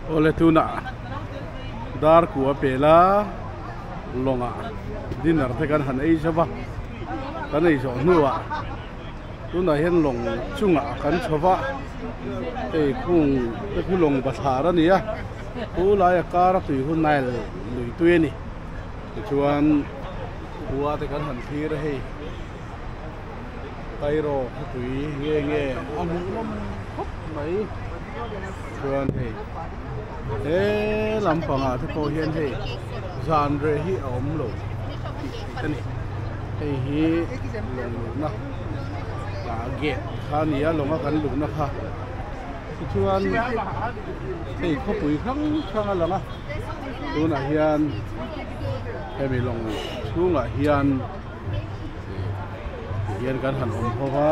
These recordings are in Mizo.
Awle tunah darku a pel a, lawngah dinner te kan han ei zauh va, kan ei zawh hnuah tunah hian lawng chungah kan chho va, hei khung te chu lawng bathlar a ni a, pu laia kara tui hu nile lui tui a ni, tichuan pu ate kan han thlir a hei. Tyro khawpui nge nge a hmuh hlawm khawp mai chuan hei he lam pangah te pawh hian hei zan reh hi a awm lo tih ka ni hei hi lawng luhna a gate kha a ni a lawng a kan luhna kha ti chuan hei khawpui hrang hrang a lang a tunah hian hemi lawng chhungah hian Tihian kan han awm ho va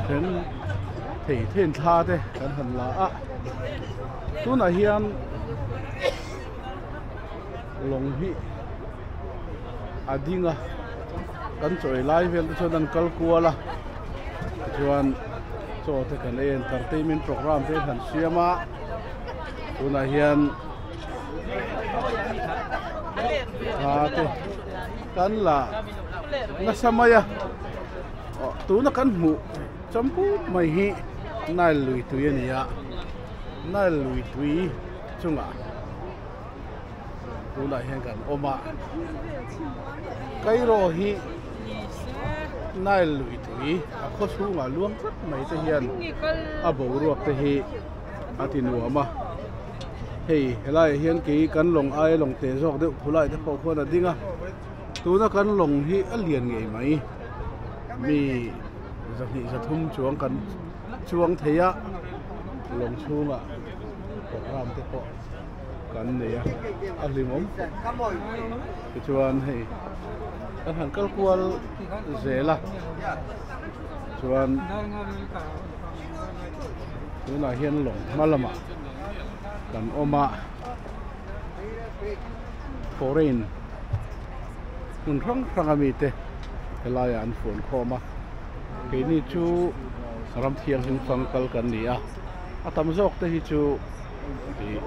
Then thei then thla te kan han la a Tunah hian lawng hi a ding a Kan chawi lai vel te chuan an kal kual a Chuan chaw te kan en tar tei min program te han siam a Tunah hian a te kan la nasa mai a tuna kan hmuh chawm put mai hi nile lui tui a ni a nile lui tui chungah tunah hian kan awm a Cairo hi nile lui tui a khawchhungah luang tlat mai te hian a boruak te hi a ti nuam a. Hei, helaiah hian kei kan lawng aia lawng teh zawk deuh khulai te pawh khuan a ding a. Tuna kan lawng hi a lian ngei mai. Mi zahnih zathum chuang kan chuang thei a, lawng chhungah programme te pawh kan nei a, a hlimawm fawlh. Tichuan hei, kan han kal kual zel a, chuan. tunah hian lawng hmalam ah kan awm a foreign hmun hrang hrang a mi te helai ah an fuan khawm a keini chu ram thianghlim fang kal kan ni a a tam zawk te hi chu ih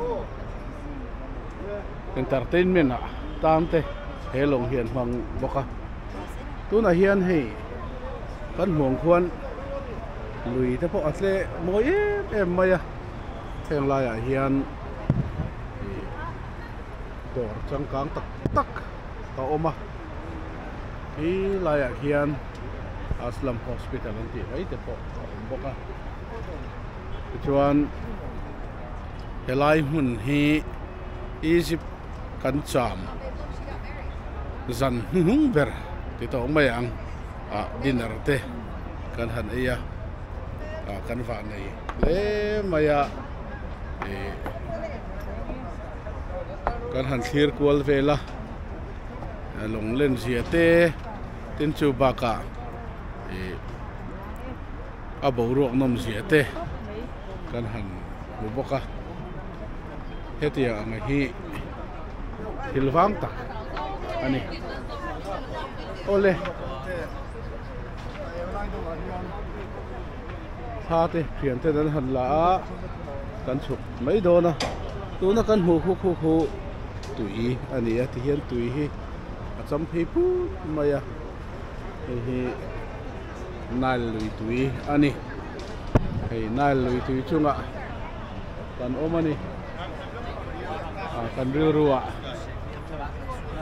entertainment ah tan te he lawng hian hmang bawk a tunah hian hei kan hmuang khuan lui te pawh a tle mawi em em mai a heng lai ah hian ih dawr changkang tak tak a awm a he lai ah hian aslam hospital an tih mai te pawh a awm bawk a tichuan he lai hmun hi egypt -- kan cham zan hnu hnung ber ti tawh mai ang ah dinner te kan han ei a ah kan vah nei hle mai a ih kan han thlir kual vel a lawng len zia te tin chu bakah ih. a boruak nawm zia te kan han hmu bawk a, hetiang anga hi thil vang tak a ni. Aw le! Tha te, thian ten an han la a, kan chhuk mai dawn a. Tuna kan hmuh huk huk hu tui a ni a, tihian tui hi a cham phei phut mai a, hei hi Nile lui tui a ni. Hei Nile lui tui chungah kan awm a ni. A kan rilrua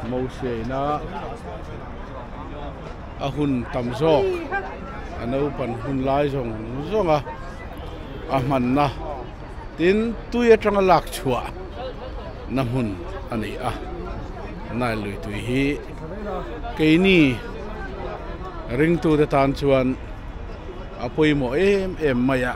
Moshe ina a hun tam zawk, a naupan hun lai zawng zawng a a hmanna. Tin, tui atanga lak chhuah na hmun a ni a, Nile lui tui hi. Keini ringtute tan chuan a pawimawh em em mai a.